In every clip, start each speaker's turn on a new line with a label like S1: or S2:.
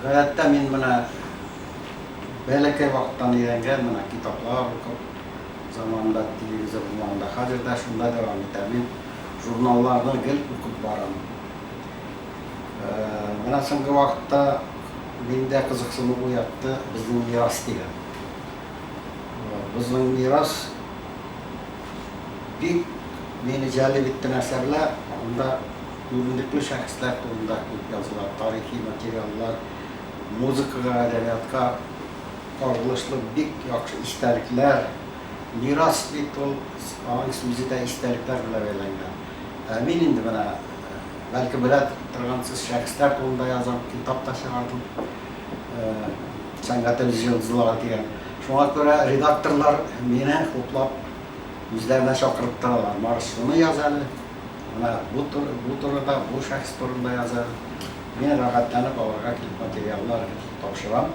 S1: Гадәттә мин менә бәләкәй вакыттан өйрәнгән, менә китаплар укып, заманында телевизор булмаганда, хәзер дә шунда дәвам итә. Мин журналларны гел укып барам. Менә соңгы вакытта миндә кызыксыну уятты Безнең мирас дигән. Безнең мирас бик мине җәлеп иткән әсәрләр, анда. Күренекле шәхесләр турында күп языла, тарихи материаллар, музыкага, әдәбиятка кагылышлы бик яхшы истәлекләр, мирас бит ул, аның сүзе дә истәлекләр белән бәйләнгән. Ә мин инде менә, бәлки белә торгансыз, шәхесләр турында язам, китап та чыгардым, Сәнгать лжелзлары дигән. Шуңа күрә редакторлар мине хуплап үзләренә чакырып торалар, Марс, шуны яз әле. Менә бу турыда, бу шәхес турында языгыз. Мин рәхәтләнеп аларга килеп материаллар тапшырам.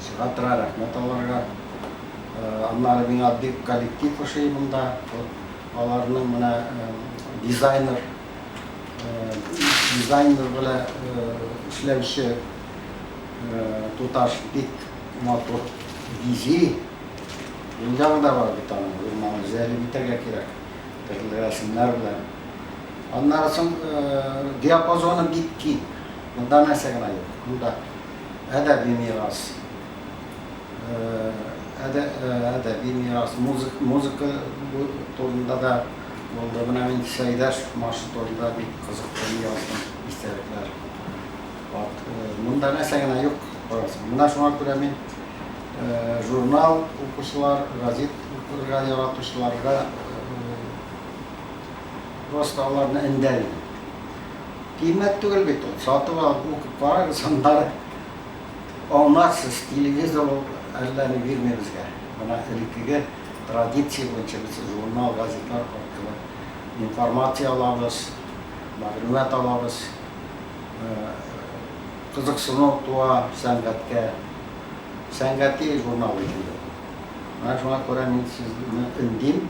S1: Чыга тора, рәхмәт аларга. Аннары миңа бик коллектив ошый монда. Аларның менә дизайнер белә эшләүче туташ бик матур бизи. Уенчыгы да бар бит аның, гел моны җәлеп итәргә кирәк. Тегеләр шуннар белән. Аннары соң диапазоны бик киң. Монда нәрсә генә юк. Монда әдәби мирас, әдәби мирас, музыка турында да булды. Менә мин Сәйдәшев маршы турында бик кызыклы яздым истәлекләр. Вот, монда нәрсә генә юк, карарсың. Менә шуңа күрә мин журнал укучылар, газет укырга яратучыларга просто аларны эндәр идем. Кыйммәт түгел бит ул, сатып алып укып карагыз, аннары аңларсыз, телевизор ул әллә ни бирми безгә. Менә элеккеге традиция буенча без журнал, газетлар аркылы информация алабыз, мәгълүмат алабыз. кызыксыну туа сәнгатькә, сәнгати журнал бит инде бу. Менә шуңа күрә мин сезне өндим,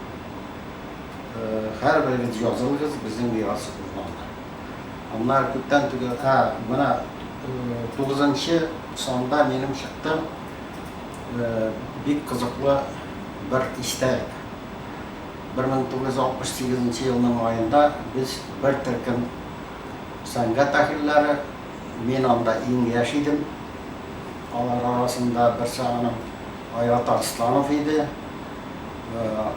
S1: һәрберегез язылыгыз безнең мирас журналына. Аннары күптән түгел, ә, менә тугызынчы санда минем чыкты бик кызыклы бер истәлек. Бер мең тугыз йөз алтмыш сигезенче елның маенда без бер төркем сәнгать әһелләре. Мин анда иң яшь идем. Алар арасында берсе аның Айрат Арсланов иде.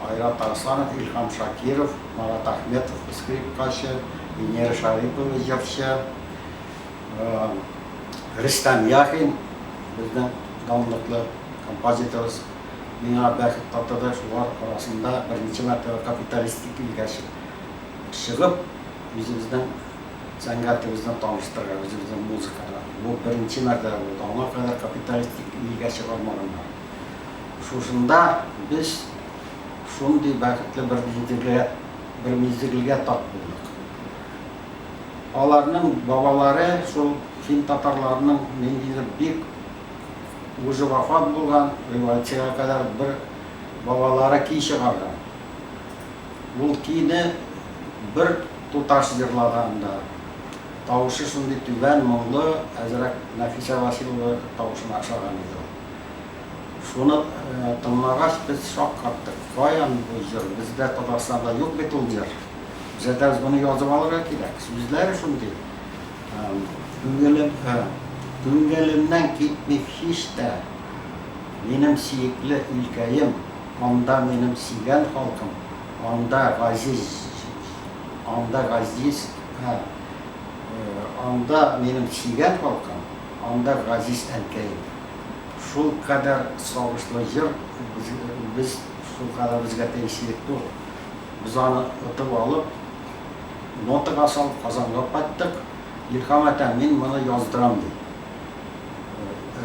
S1: Айрат Арсланов, Илһам Шакиров, Марат Әхмәтов, скрипкачы, Венера Шарипова, җырчы, Рөстәм Яхин, безнең данлыклы композиторыбыз. Миңа бәхет татыды, шулар арасында беренче мәртәбә капиталистик илгә чык. чыгып, үзебезнең сәнгатебезне таныштырырга, үзебезнең музыкага. Бу беренче мәртәбә булды. Аңа кадәр капиталистик илгә чыгармаганнар. Шушында без шундый бәхетле бер мизгелгә, бер мизгелгә тап булдык. Аларның бабалары шул фин татарларының ниндидер бик уже вафат булган, риваятьчегә кадәр бер бабалары көй чыгарган. Гулкине бер туташ җырлаган да. Тавышы шундый түбән, моңлы, әзрәк Нәфисә Василова тавышына ошаган иде ул. Шуны тыңлагач, без шаккаттык, каян бу җыр, бездә Татарстанда юк бит ул җыр. Җәтәз, моны язып алырга кирәк, сүзләре шундый, күңелем, күңелемнән китми һич тә. Минем сиекле илкәем, анда минем сигән халкым, анда газиз, анда газиз, ә, анда минем сигән халкым, анда газиз әнкәем. Шул кадәр сагышлы җыр, без, шул кадәр безгә тә иселекле ул. Без аны отып алып, нотага салып, Казанга кайттык. Илһам әтәм, мин моны яздырам, ди.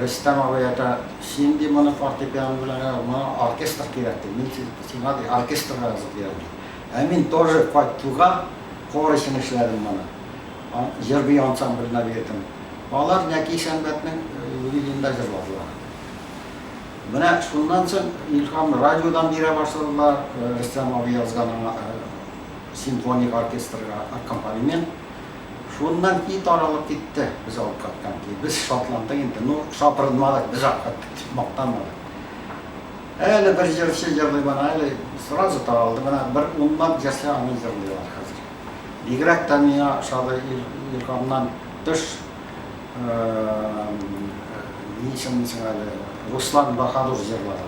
S1: Рөстәм абый әйтә, син, ди, моны фортепиано белән генә, моңа оркестр кирәк, ди, мин сиңа, ди, оркестр язып бирәм, ди. Ә мин тоже кайт туга, хор өчен эшләдем моны. Җыр-бию ансамбленә бирдем. Алар Нәки Сәнбәтнең юбилеенда җырладылар. Менә шуннан соң Илһам радиодан бирә башладылар, Рөстәм абый язган аңа симфоник оркестрга аккомпанемент. Шуннан и таралып китте, без алып кайткан ки, без шатландык инде, ну, шапырынмадык, без алып кайттык дип мактанмадык. Әле бер җырчы җырлый моны, әле сразу таралды, менә бер унлап җырчы аны җырлыйлар хәзер. Бигрәк тә миңа ошады Илһамнан тыш, ни исемли соң әле, Руслан Баһадур җырлады.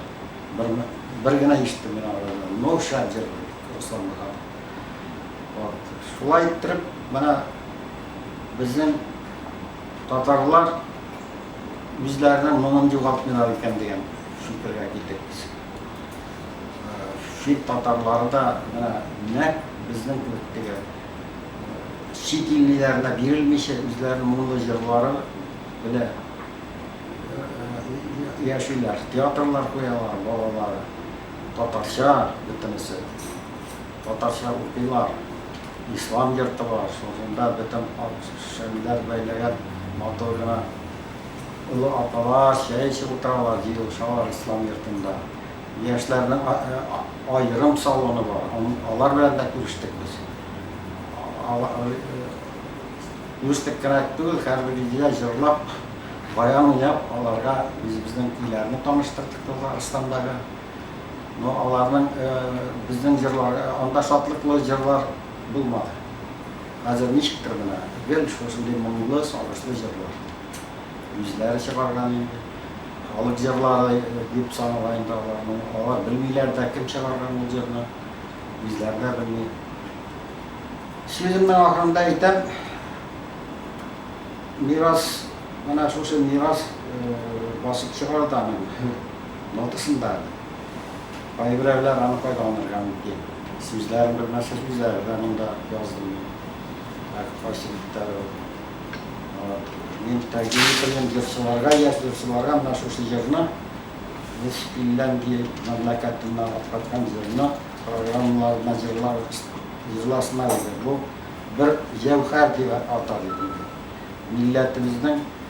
S1: Бер генә ишеттем мин алардан, ну, шәп җырлый Руслан Баһадур. Вот. Шулай иттереп, менә безнең татарлар үзләренең моңын югалтмыйлар икән дигән фикергә килдек без. Э, чит татарлары да менә нәкъ безнең кебек теге чит иллеләренә бирелмичә үзләренең моңлы җырлары белән яшиләр, театрлар куялар, балалары, татарча бөтенесе. Татарча укыйлар. Ислам йорты бар, шунда бөтен ак-шәмнәр бәйләгән матур гына олы апалар чәй эчеп утыралар, җыелышалар Ислам йортында. Яшьләрнең аерым салоны бар, алар белән дә күрештек без. Күрештек кенә түгел, һәрбер өйдә җырлап, баян уйнап, аларга үзебезнең өйләрне таныштырдык Татарстандагы. Но аларның безнең җырлар, анда шатлыклы җырлар булмады. Хәзер ничектер менә гел шушындый моңлы, сагышлы җырлар. Үзләре чыгарган инде. Халык җырлары дип санала инде аларны. Алар белмиләр дә, кем чыгарган ул җырны. Үзләре дә белми. Сүземнең ахырында әйтәм, мирас, менә шушы мирас басып чыгарда аны. Нотасын да әле. Кайберәүләр аны файдаланырга мөмкин. Сүзләрен белмәсә, сүзләре дә монда язылмый. Әк кайсы биттә ул. Вот. Мин тәкъдим ителгән җырчыларга, яшь җырчыларга менә шушы җырны, без Финляндия мәмләкәтеннән алып кайткан җырны программаларына җырлар, җырласыннар иде. Бу бер җәүһәр дип атар идем мин. Милләтебезнең.